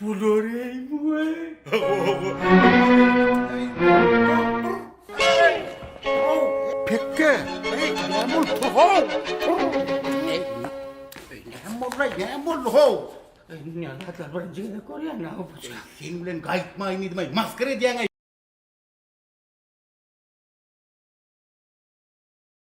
Bularymy Pekge! Näme boldy? Näme boldy ho? Näme hatlar birinji gezek görýän näme bolsa. Sen bilen gaýtmaýyn diýdim, maskara edýäň.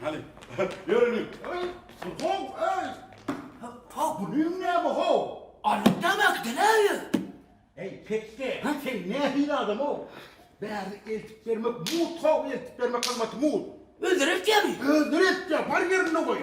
Hany, ýöreliň. Öý, ho, öý. Ha, bu näme ho? Alyp nämek deläýer. Eý, pekde, sen nähili adam-ow? Bärini eltip bermek mut ho, eltip bermek gymmaty mut. Özleri etýärmi? Özleri etýär, bar ýerinde goý.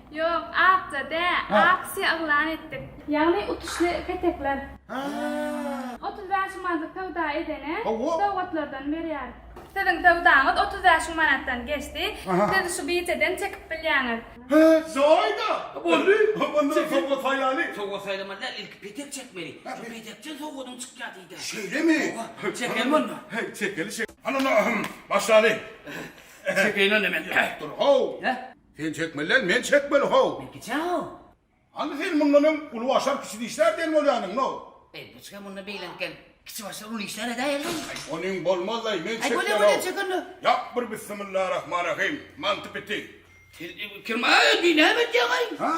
Ýok, akja dä, aksiýa yglan etdik. Ýagny utuşly petekler. Otuz bäş manatlyk söwda edene sowgatlardan berýäris. Siziň söwdaňyz otuz bäş müň manatdan geçdi, siz şu biýjeden çekip bilýäňiz. Hä, jaýda. Boldy. Onda sowgat saýlaýly. Sowgat saýlamaly däl, ilki petek çekmeli. Şu petekden sowgadyň çykýar diýdiler. Şeýlemi? Hawa, çekelim onda. Çekeli şek. Hany onda, başlaly. Çekeýin onda men. Dur, how. Sen çekmeli däl, men çekmeli, how! Bilgiçä how! Hany sen mundan öň uly başar kiçi dişlär diýen bolýanyň, no! Eý, bu çyga mundan beýlenkem kiçi başar uly işlär edäý elleý! Aý, onyň bolmazlaý, men çekýän, how! Aý, bolýa-bolýa, çek onda! Ýap bir Bissimillarahmanrahym, manty piti! Sen, eý, bu kirmaý, diý, näme edýäň, aý! Ha!